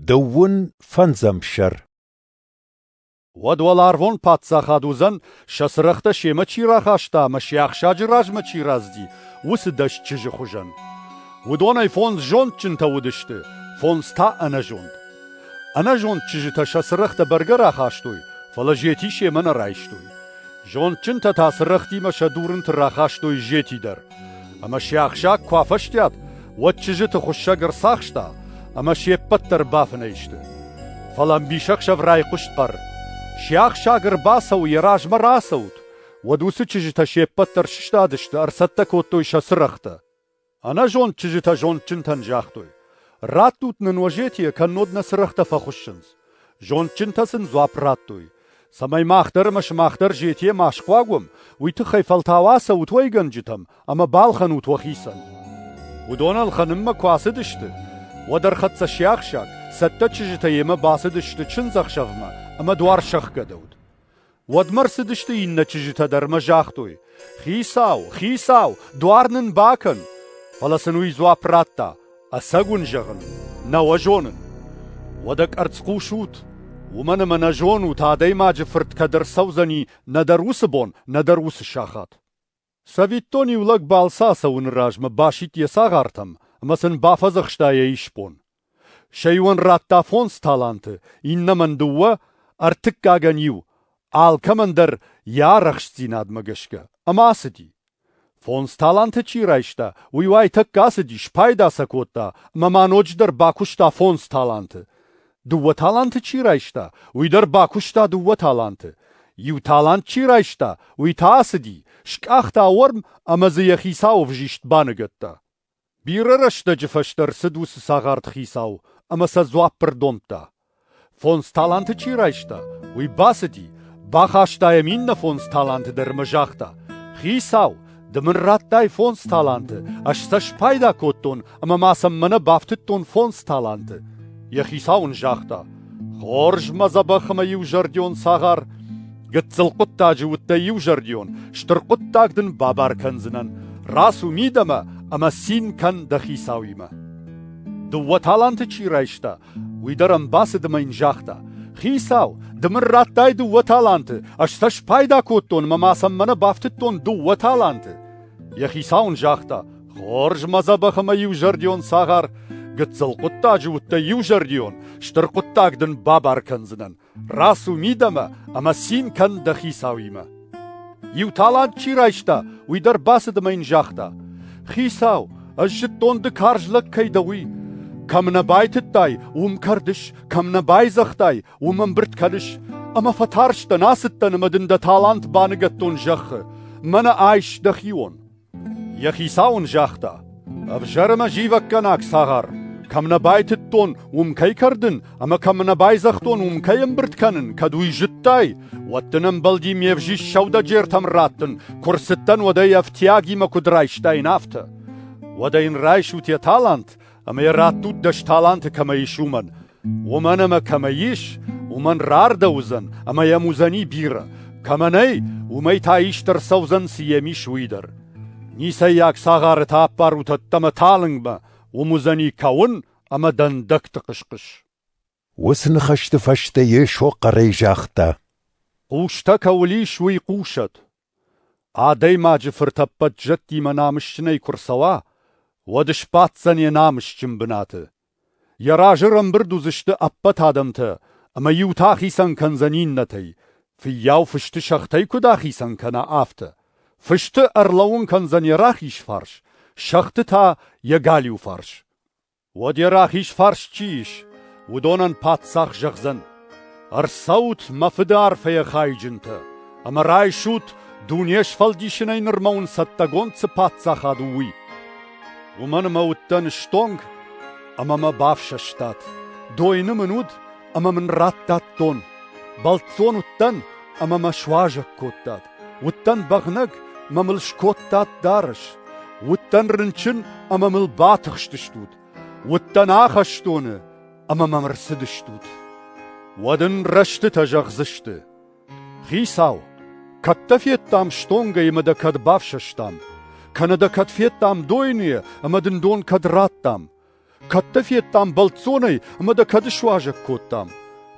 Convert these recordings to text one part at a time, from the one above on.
Дыууын фӕндзӕм сӕр Уӕд уӕларвон паддзахад уыдзӕн, сӕ цырӕгътӕ семӕ чи рахаста ӕмӕ се ӕхсӕджы размӕ чи раздзи, уыцы дӕсчызджы хуызӕн. Уыдонӕй фондз зондджынтӕ уыдысты, фондз та ӕнӕзонд. Ӕнӕзонд чызджытӕ сӕ цырӕгътӕ бӕргӕ рахастой, фӕлӕ зети семӕ нӕ райстой. Зондджынтӕ та цырӕгътимӕ сӕ дурынты рахастой зети дӕр. Ӕмӕ се ӕхсӕг куы афӕстиат, уӕд чызджыты хуыссӕг ӕрцахста ӕмӕ се ппӕт дӕр бафынӕй сты. Фӕлӕ ӕмбисӕхсӕв райхъуыст хъӕр: «Се ӕхсӕг ӕрбацӕуы, йӕ размӕ рацӕут!» Уӕд уыцы чызджытӕ се ппӕт дӕр сыстадысты, ӕрцӕттӕ кодтой сӕ цырӕгътӕ. Ӕнӕзонд чызджытӕ зондджынтӕн загътой: «Раттут нын Уазетийӕ, кӕннод нӕ цырӕгътӕ фӕхуыссынц!» Зондджынтӕ сын дзуапп радтой, цӕмӕй мах дӕр ӕмӕ сымах дӕр зетийӕ ма схъуаг уӕм, уый тыххӕй фӕлтау ацӕут уӕйгӕнджытӕм ӕмӕ балхӕнут уӕхицӕн. Уыдон ӕлхӕнынмӕ куы ацыдысты, уӕд ӕрхӕццӕ сиахсаг, цӕттӕ чызджытӕ йемӕ бацыдысты чындзӕхсӕвмӕ ӕмӕ дуар сӕхгӕдӕуыд. Уӕдмӕ рцыдысты иннӕ чызджытӕ дӕр ӕмӕ загътой: «Хицау, хицау, дуар нын бакӕн!» Фӕлӕ сын уый дзуапп радта: «Ӕцӕг уын зӕгъын, нӕ уӕ зонын. Уӕдӕ къӕрцц хъусут, уымӕн ӕмӕ нӕ зонут, адӕймаджы фырт кӕд ӕрцӕудзӕни нӕдӕр уыцы бон, нӕдӕр уыцы сахат». Цӕвиттон, иу лӕг балцы ацӕуыны размӕ басидт йӕ цагъартӕм ӕмӕ сын бафӕдзӕхста йӕ исбон. Сӕ иуӕн радта фондз таланты, иннӕмӕн дыууӕ, ӕртыккагӕн иу, алкӕмӕн дӕр йӕ арӕхстдзинадмӕ гӕсгӕ, ӕмӕ ацыди. Фондз таланты чи райста, уый уайтӕккӕ ацыди, спайда сӕ кодта ӕмӕ ма ноджыдӕр бакуыста фондз таланты. Дыууӕ таланты чи райста, уый дӕр бакуыста дыууӕ таланты. Иу талант чи райста, уый та ацыди, скъахта уорм ӕмӕ дзы йӕ хицауы взист баныгӕдта. Бирӕ рӕстӕджы фӕстӕ рцыд уыцы цагъарт хицау ӕмӕ сӕ дзуапп ӕрдомдта. Фондз таланты чи райста, уый бацыди, бахаста йӕм иннӕ фондз таланты дӕр ӕмӕ загъта: «Хицау, Ды мын радтай фондз таланты, ӕз сӕ спайда кодтон ӕмӕ ма сӕм мӕнӕ бафтыдтон фондз таланты. Йӕ хицау ын загъта: Хорз, мӕ дзӕбӕх ӕмӕ иузӕрдион цагъар, гыццыл хъуыддаджы уыдтӕ иузӕрдион, стыр хъуыддаг дын бабар кӕндзынӕн. Рацу мидӕмӕ ӕмӕ цин кӕн дӕ хицауимӕ. Дыууӕ таланты чи райста, Уый дӕр ӕм бацыд ӕмӕ йын загъта: «Хицау, ды мын радтай дыууӕ таланты, ӕз сӕ спайда кодтон ӕмӕ ма сӕм мӕнӕ бафтыдтон дыууӕ таланты». Йӕ хицау ын загъта: «Хорз, мӕ дзӕбӕх ӕмӕ иузӕрдион цагъар, гыццыл хъуыддаджы уыдтӕ иузӕрдион, стыр хъуыддаг дын бабар кӕндзынӕн. Рацу мидӕмӕ ӕмӕ цин кӕн дӕ хицауимӕ. Иу талант чи райста, уый дӕр бацыд ӕмӕ йын загъта: «Хицау, ӕз зыдтон ды карз лӕг кӕй дӕ, уый. Кӕм нӕ байтыдтай, уым кӕрдыс, кӕм нӕ байдзӕгътай, уым ӕмбырд кӕныс. Ӕмӕ фӕтарстӕн, ацыдтӕн ӕмӕ дын дӕ талант баныгӕдтон зӕххы. Мӕнӕ айс дӕхион!» Йӕ хицау ын загъта: «Ӕвзӕр ӕмӕ зивӕггӕнаг цагъар! Кӕм нӕ байтыдтон, уым кӕй кӕрдын ӕмӕ кӕм нӕ байдзӕгътон, уым кӕй ӕмбырд кӕнын, кӕд уый зыдтай, уӕд дын ӕмбӕлди ме взист сӕудӕджертӕм раттын, куы рцыдтӕн, уӕдӕй ӕфтиагимӕ куыд райстаин, афтӕ. Уӕдӕ йын райсут йӕ талант, ӕмӕ йӕ раттут дӕс таланты кӕмӕ ис, уымӕн. Уымӕн ӕмӕ кӕмӕ ис, уымӕн рардӕуыдзӕн ӕмӕ йӕм уыдзӕни бирӕ, кӕмӕ нӕй, уымӕй та ист ӕрцӕудзӕн цы йӕм ис, уый дӕр. Ницӕййаг цагъары та аппарут ӕддӕмӕ талынгмӕ, уым уыдзӕни кӕуын ӕмӕ дӕндӕгты хъысхъыс. Уыцы ныхӕсты фӕстӕ Йесо хъӕрӕй загъта: «Хъустӕ кӕуыл ис, уый хъусӕд!» Адӕймаджы фыртӕппӕт зӕдтимӕ намысджынӕй куы рцӕуа, уӕд сбаддзӕн йӕ намысджын бынаты. Йӕ разы рӕмбырд уыдзысты ӕппӕт адӕмтӕ, ӕмӕ иутӕ ахицӕн кӕндзӕн иннӕтӕй, фыййау фысты сӕгътӕй куыд ахицӕн кӕна, афтӕ. Фысты ӕрлӕууын кӕндзӕн йӕ рахиз фарс, сӕгъты та — йӕ галиу фарс. Уӕд йӕ рахиз фарс чи ис, уыдонӕн паддзах зӕгъдзӕн: «Ӕрцӕут, мӕ фыды арфӕйӕ хайджынтӕ, ӕмӕ райсут, дуне сфӕлдисынӕй нырмӕ уын цӕттӕгонд цы паддзахад у, уый. Уымӕн ӕмӕ уыдтӕн стонг ӕмӕ мӕ бафсӕстат, дойны мын уыд ӕмӕ мын радтадтон, бӕлццон уыдтӕн ӕмӕ мӕ суазӕг кодтат. Уыдтӕн бӕгънӕг, мӕ мыл скодтат дарӕс, уыдтӕн рынчын ӕмӕ мыл батыхстыстут, уыдтӕн ахӕстоны ӕмӕ мӕм ӕрцыдыстут. Уӕд ын рӕстытӕ зӕгъдзысты: «Хицау, кӕд дӕ федтам стонгӕй ӕмӕ дӕ кӕд бафсӕстам, кӕнӕ дӕ кӕд федтам дойныйӕ ӕмӕ дын дон кӕд раттам, Кӕд дӕ федтам бӕлццонӕй ӕмӕ дӕ кӕд ысуазӕг кодтам?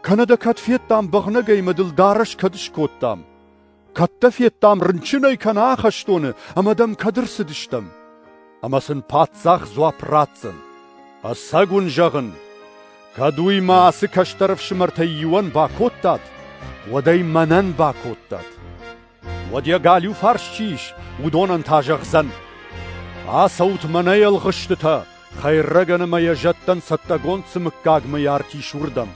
Кӕнӕ дӕ кӕд федтам бӕгънӕгӕй ӕмӕ дыл дарӕс кӕд ыскодтам? Кӕд дӕ федтам рынчынӕй кӕнӕ ахӕстоны ӕмӕ дӕм кӕд ӕрцыдыстӕм? Ӕмӕ сын паддзах дзуапп ратдзӕн: Ӕцӕг уын зӕгъын, кӕд уый мӕ ацы кӕстӕр ӕфсымӕртӕй иуӕн бакодтат, уӕд ӕй мӕнӕн бакодтат. Уӕд йӕ галиу фарс чи ис, уыдонӕн та зӕгъдзӕн: «Ацӕут мӕнӕ ӕлгъыстытӕ, хӕйрӕгӕн ӕмӕ йӕ зӕдтӕн цӕттӕгонд цы мыггаг мыййарт ис, уырдӕм.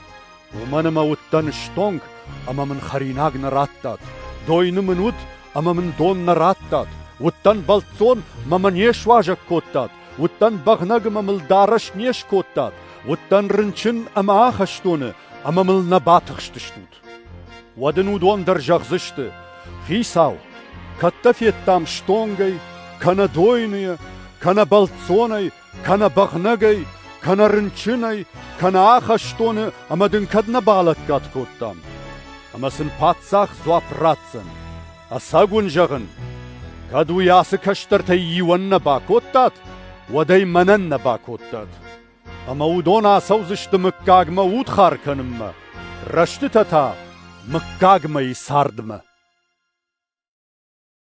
уымӕн ӕмӕ уыдтӕн стонг, ӕмӕ мын хӕринаг нӕ радтат, дойны мын уыд, ӕмӕ мын дон нӕ радтат, уыдтӕн бӕлццон, мӕ мӕ не суазӕг кодтат, уыдтӕн бӕгънӕг ӕмӕ мыл дарӕс не скодтат, уыдтӕн рынчын ӕмӕ ахӕстоны, ӕмӕ мыл нӕ батыхстыстут». Уӕд ын уыдон дӕр зӕгъдзысты: «Хицау, кӕд дӕ федтам стонгӕй, кӕнӕ дойныйӕ, кӕнӕ бӕлццонӕй, кӕнӕ бӕгънӕгӕй, кӕнӕ рынчынӕй, кӕнӕ ахӕстоны ӕмӕ дын кӕд нӕ балӕггад кодтам? Ӕмӕ сын паддзах дзуапп ратдзӕн: ӕцӕг уын зӕгъын, кӕд уый ацы кӕстӕртӕй иуӕн нӕ бакодтат, уӕд ӕй мӕнӕн нӕ бакодтат. Ӕмӕ уыдон ацӕудзысты мыггагмӕ удхар кӕнынмӕ, рӕстытӕ та мыггагмӕйы цардмӕ.